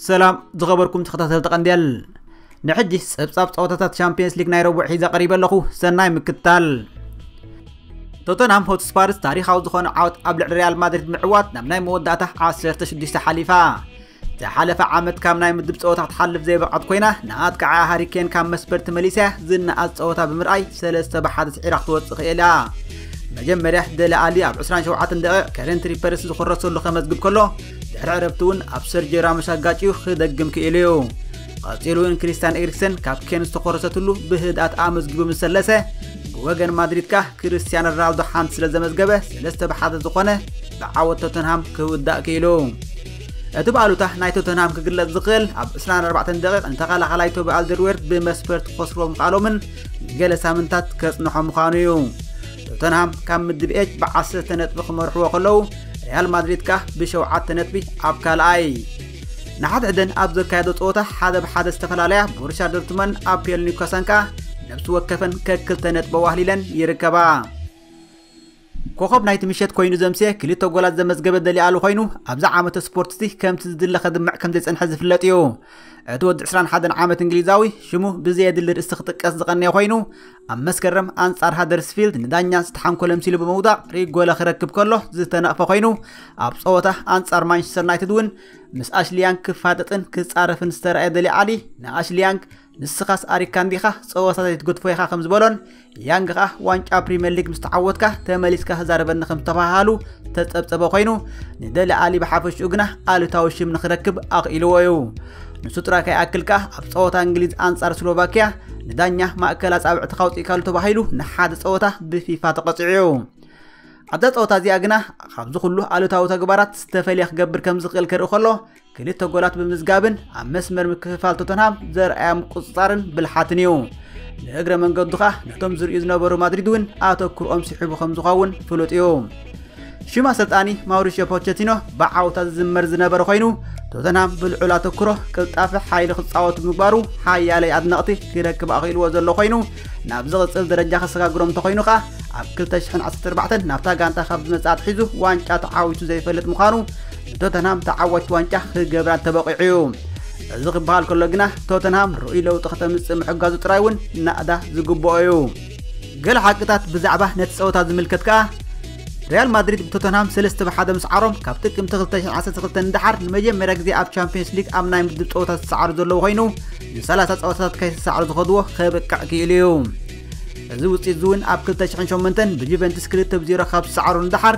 ሰላም ዝኸበርኩም ተኸታተልቲ ቀንዴል ንሕጂ ጸብጻብ ጸወታታት ቻምፒየንስ ሊግ ናይ ረቡዕ ሒዘ ቀሪበ ኣለኹ ሰናይ ምክታል ቶተንሃም ሆትስፓርስ ታሪኻዊ ዝኾነ ዓወት ኣብ ልዕሊ ሪያል ማድሪድ ምዕዋት ናብ ናይ መወዳእታ 16 ሓሊፋ ዝሓለፈ ዓመት ካብ ናይ ምድብ ፀወታ ክትሓልፍ ዘይበቕዐት ኮይና ንኣጥቃዓያ ሃሪኬን ካብ መስበር ተመሊሳ ዝነኣስ ፀወታ ብምርኣይ ሰለስተ ብሓደ ስዒራ ክትወፅእ ክኢላ መጀመርያ ደለ ኣሊ ኣብ 27 ደቂቕ ከረንት ሪፐርስ ዝኮረሰሉ ከመዝግብ ከሎ ድሕሪ ዕረፍቲ እውን ኣብ ሰርጆ ራሞስ ኣጋጭዩ ክደግም ክኢሉ እዩ ቀፂሉ እውን ክሪስቲያን ኤሪክሰን ካብ ኬን ዝተኮረሰትሉ ብህድኣት ኣመዝጊቡ ምስ ሰለሰ ብወገን ማድሪድ ከ ክርስቲያን ሮናልዶ ሓንቲ ስለ ዘመዝገበ ሰለስተ ብሓደ ዝኾነ ብዓወት ቶተንሃም ክውዳእ ክኢሉ እቲ ብኣሉታ ናይ ቶተንሃም ክግለጽ ዝኽእል ኣብ 24 ደቂቕ ንተኸላኻላይ ቶቢ ኣልደርዌርት ብመስፈርት ክኸስርዎ ምኽኣሎምን ገለ ሳምንታት ከጽንሖ ምዃኑ እዩ ቶተንሃም ካብ ምድብ ኤች ብዓሰርተ ነጥቢ ክመርሕዎ ከለዉ ሪያል ማድሪድ ከኣ ብሸውዓተ ነጥቢ ኣብ ካልኣይ ንሓድሕደን ኣብ ዘካየዶ ፀወታ ሓደ ብሓደ ዝተፈላለያ ቦርሻ ዶርትመን ኣብ ፔል ኒውካሳን ከኣ ነብሲ ወከፈን ከክልተ ነጥቢ ዋህሊለን ይርከባ ኮኾብ ናይቲ ምሸት ኮይኑ ዘምስየ ክልተ ጎላት ዘመዝገበ ደሊኣሉ ኮይኑ ኣብዚ ዓመተ ስፖርት'ዚ ከምቲ ዝድለ ከድምዕ ከምዘይጸንሐ ዝፍለጥ እዩ። እቲ ወዲ 21 ዓመት እንግሊዛዊ ሽሙ ብዘየድሊ ርእሲ ክጥቀስ ዝቐነየ ኮይኑ ኣብ መስከረም ኣንጻር ሃደርስፊልድ ንዳኛ ዝተሓንኮለ ምሲሉ ብምውዳቕ ሪጎለ ክረክብ ከሎ ዝተነቕፈ ኮይኑ ኣብ ጸወታ ኣንጻር ማንቸስተር ዩናይትድ እውን ምስ ኣሽሊያንግ ክፋጠጥን ክጻረፍን ዝተረኣየ ደሊኣሊ ንኣሽሊያንግ ንስኻስ ኣሪግካ እንዲኻ ጸወታ ዘይትገድፎ ኢኻ ከም ዝበሎን ያንግ ከኣ ዋንጫ ፕሪምየር ሊግ ምስ ተዓወትካ ተመሊስካ ክዛረበኒ ከም ዝተባሃሉ ተጸብጸበ ኮይኑ ንደሊ ኣሊ ብሓፈሽኡ ግና ኣሉታዊ ሽም ንክረክብ ኣኽኢልዎ እዩ ንሱ ጥራይ ከይኣክል ከኣ ኣብ ጸወታ እንግሊዝ ኣንጻር ስሎቫኪያ ንዳኛ ማእከል ኣጻብዕቲ ካውፅኢካሉ ተባሂሉ ንሓደ ጸወታ ብፊፋ ተቐፂዑ እዩ ኣብዛ ጸወታ እዚኣ ግና ካብዚ ኩሉ ኣሉታዊ ተግባራት ዝተፈልየ ክገብር ከም ዝኽእል ክርኢ ከሎ ክልተ ጎላት ብምዝጋብን ኣብ መስመር ምክፍፋል ቶተንሃም ዘርኣያ ምቁፅፃርን ብልሓትን እዩ ንእግረ መንገዱ ኸኣ ነቶም ዝርእዩ ዝነበሩ ማድሪድ እውን ኣተኩርኦም ስሒቡ ከም ዝኸውን ፍሉጥ እዩ ሽም ኣሰልጣኒ ማውሪሽዮ ፖቸቲኖ ብዓውታ ዝዝመር ዝነበረ ኮይኑ ቶተንሃም ብልዑል ኣተኩሮ ቅልጣፈ ሓይሊ ክፃወቱ ምግባሩ ሓያለይ ኣድነቕቲ ክረክብ ኣኽኢልዎ ዘሎ ኮይኑ ናብ ዝቕፅል ደረጃ ከሰጋግሮም እንተኮይኑ ኸኣ ኣብ 2014 ናብታ ጋንታ ካብ ዝመፅእ ኣትሒዙ ዋንጫ ተዓዊቱ ዘይፈልጥ ምዃኑ ቶተንሃም ተዓዋቲ ዋንጫ ክገብራ ተበቒዑ እዩ እዚ ክበሃል ከሎ ግና ቶተንሃም ርኡይ ለውጢ ከተምፅእ ምሕጋዙ ጥራይ እውን ናእዳ ዝግብኦ እዩ ገለ ሓቅታት ብዛዕባ ነቲ ፀወታ ዝምልከት ከኣ ሪያል ማድሪድ ብቶተንሃም ሰለስተ ብሓደ ምስዓሮም ካብ ጥቅምቲ 2012 ንደሓር ንመጀመርያ ግዜ ኣብ ቻምፒየንስ ሊግ ኣብ ናይ ምድብ ፀወታ ዝሰዓሩ ዘለዉ ኮይኑ ን30 ፀወታታት ከይተሰዓሩ ዝኸድዎ ከብቅዕ ክኢሉ እዩ እዚ ውፅኢት እዚ እውን ኣብ 2008 ብጁቨንትስ 2 ብ 0 ካብ ዝሰዓሩ ንደሓር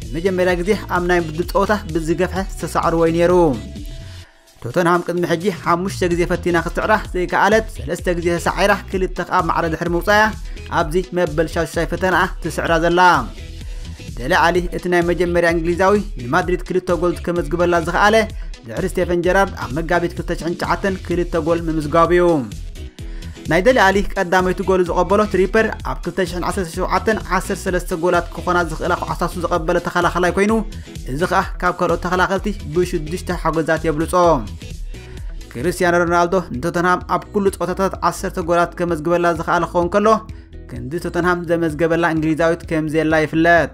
ንመጀመርያ ግዜ ኣብ ናይ ምድብ ፀወታ ብዝገፍሐ ዝተሰዓርዎ እዩ ነይሩ ቶተንሃም ቅድሚ ሕጂ ሓሙሽተ ግዜ ፈቲና ክትስዕራ ዘይከኣለት ሰለስተ ግዜ ተሳዒራ ክልተ ከዓ ማዕረ ድሕሪ ምውፃያ ኣብዚ መበል ሻዱሻይ ፈተናኣ ትስዕራ ዘላ ደለ ዓሊ እቲ ናይ መጀመርያ እንግሊዛዊ ንማድሪድ ክልተ ጎል ከመዝግበላ ዝኸኣለ ድሕሪ ስቴፈን ጀራርድ ኣብ መጋቢት 2009 ክልተ ጎል ምምዝጋቡ እዩ ናይ ደሊ ኣሊ ቀዳመይቲ ጎሉ ዝቐበሎ ትሪፐር ኣብ 2017 13 ጎላት ክኾና ዝኽእላ ኳዕሳሱ ዝቐበለ ተኸላኸላይ ኮይኑ እዚ ከዓ ካብ ካልኦት ተኸላኸልቲ ብሽዱሽተ ሓጎዛት የብልጾ ክርስቲያኖ ሮናልዶ ንቶተንሃም ኣብ ኩሉ ፀወታታት 10 ጎላት ከመዝግበላ ዝኽኣለ ክኸውን ከሎ ክንዲ ቶተንሃም ዘመዝገበላ እንግሊዛዊት ከምዘየላ ይፍለጥ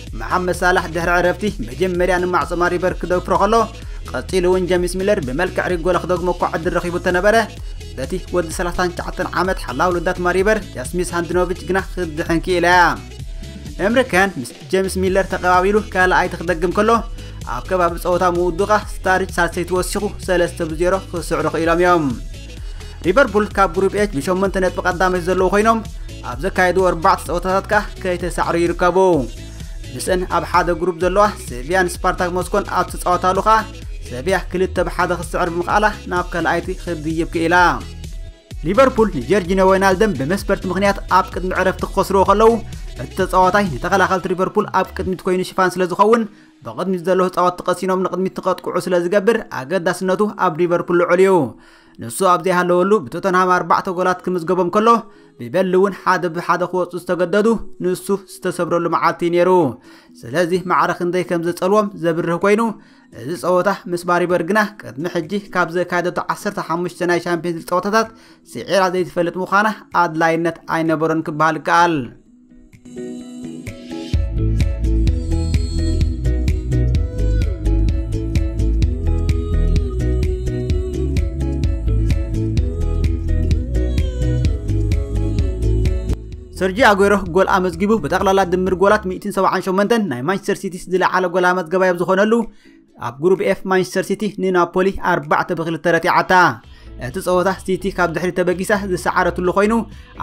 መሓመድ ሳላሕ ድሕሪ ዕረፍቲ መጀመርያ ንማዕጾ ማሪበር ክደፍሮ ከሎ ቀጺሉ እውን ጀሚስ ሚለር ብመልክዕ ሪጎለ ክደግሞ እኳ ዕድል ረኺቡ ተነበረ በቲ ወዲ 39 ዓመት ሓላው ልዳት ማሪበር ጃስሚስ ሃንድኖቪች ግና ክትድሕን ክኢላ እያ እምሪከን ምስ ጀምስ ሚለር ተቐባቢሉ ካልኣይቲ ክደግም ከሎ ኣብ ከባቢ ጸወታ ምውዱቓ ስታሪች ሳልሰይቲ ወሲኹ 3 ብ0 ክስዕሩ ክኢሎም እዮም ሊቨርፑል ካብ ግሩፕ ኤች ብሸሞንተ ነጥቢ ቀዳመሽ ዘለዉ ኮይኖም ኣብ ዘካየዱ ኣርባዕተ ፀወታታት ከዓ ከይተሳዕሩ ይርከቡ ምስእን ኣብ ሓደ ግሩፕ ዘለዋ ሴቪያን ስፓርታክ ሞስኮን ኣብ ትፃወታሉ ከዓ ሰቪያ ክልተ ብሓደ ክስዕር ብምኽኣላ ናብ ካልኣይቲ ክትድይብ ክኢላ ሊቨርፑል ንጀርጂኖ ወይናልደም ብመስበርቲ ምክንያት ኣብ ቅድሚ ዕረፍቲ ክኸስርዎ ከለዉ እቲ ተፃዋታይ ንተኸላኸልቲ ሊቨርፑል ኣብ ቅድሚት ኮይኑ ሽፋን ስለ ዝኸውን ብቕድሚት ዘሎ ተጻወትቲ ቀሲኖም ንቕድሚት ትኸጥቅዑ ስለ ዝገብር ኣገዳስነቱ ኣብ ሊቨርፑል ልዑል እዩ ንሱ ኣብ ዘይሃለወሉ ብቶተንሃም ኣርባዕተ ጎላት ክምዝገቦም ከሎ ብበሊ እውን ሓደ ብሓደ ክወፁ ዝተገደዱ ንሱ ዝተሰብረሉ መዓልቲ ነይሩ ስለዚ ማዕረ ክንደይ ከም ዘፀልዎም ዘብርህ ኮይኑ እዚ ፀወታ ምስ ባሪበር ግና ቅድሚ ሕጂ ካብ ዘካየደቶ 15 ናይ ሻምፒየንስ ሊግ ፀወታታት ስዒራ ዘይትፈልጥ ምዃና ኣድላይነት ኣይነበሮን ክበሃል ይከኣል ሰርጂ ኣጎሮ ጎል ኣመዝጊቡ ብጠቕላላ ድምር ጎላት 178 ናይ ማንቸስተር ሲቲስ ዝለዓለ ጎል ኣመዝገባይ ኣብ ዝኾነሉ ኣብ ግሩብ ኤፍ ማንቸስተር ሲቲ ንናፖሊ 4 ብ2 ረቲዓታ እቲ ጸወታ ሲቲ ካብ ድሕሪ ተበጊሳ ዝሰዓረትሉ ኮይኑ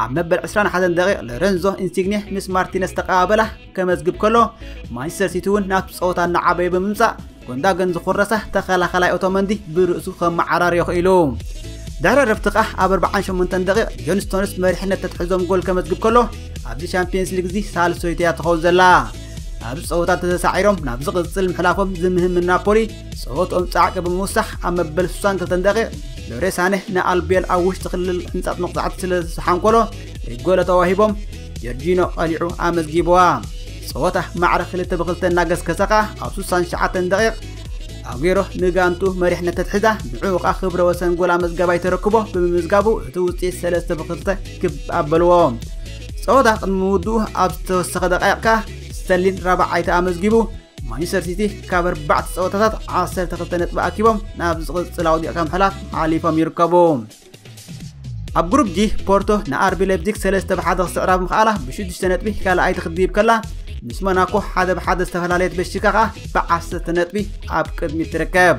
ኣብ መበል 21 ደቂቕ ሎረንዞ ኢንሲግኔ ምስ ማርቲነስ ተቀባበላ ከመዝግብ ከሎ ማንቸስተር ሲቲ እውን ናብ ጸወታ እናዓበየ ብምምጻእ ጎንዳገን ዝኹረሳ ተኸላኸላይ ኦቶመንዲ ብርእሱ ከመዓራርዮ ክኢሉ ድሕሪ ረፍቲ ከዓ ኣብ 48 ደቂቕ ጆን ስቶንስ መሪሕነት ተትሕዞም ጎል ከመዝግብ ከሎ ኣብዚ ሻምፒየንስ ሊግ እዚ ሳልሶይተያ ትኸውን ዘላ ኣብዚ ፀወታ ተተሳዒሮም ናብ ዝቕፅል ምሕላፎም ዝምህም ናፖሊ ፀወትኦም ፃዕቂ ብምውሳኽ ኣብ መበል 62 ደቂቕ ሎሬ ሳኔህ ንኣልቤል ኣብ ውሽጢ ክልል ሕንፃፅ መቕፃዕቲ ስለ ዝተሓንኮሎ ሪጎለ ተዋሂቦም ጀርጂኖ ቀሊዑ ኣመዝጊብዋ ፀወታ ማዕረ ክልተ ብክልተ እናገስገሰ ከዓ ኣብ 67 ደቂቕ ኣጉሮ ንጋንቱ መሪሕነት ተትሕዛ ንዕኡ ከዓ ክብረ ወሰን ጎል ኣመዝጋባይ ተረክቦ ብምምዝጋቡ እቲ ውፅኢት 3 ብክልተ ክብ ኣበልዎ ፀወታ ቅድሚ ምውድኡ ኣብ ዝተወሰኸ ደቃይቕካ ስተርሊን ራብዓይ ተኣመዝጊቡ ማንቸስተር ሲቲ ካብ ኣርባዕተ ፀወታታት 12 ነጥቢ ኣኪቦም ናብ ዝቕፅል ኣውዲቕካ ምሕላፍ ሓሊፎም ይርከቡ ኣብ ግሩፕ ጂ ፖርቶ ንኣርቢ ሌፕዚግ 3 ብሓደ ክስዕራብ ምኽኣላ ብ6 ነጥቢ ካልኣይቲ ክትድይብ ከላ ምስ ሞናኮ ሓደ ብሓደ ዝተፈላለየት በሽካ ከዓ ብ10 ነጥቢ ኣብ ቅድሚት ትርከብ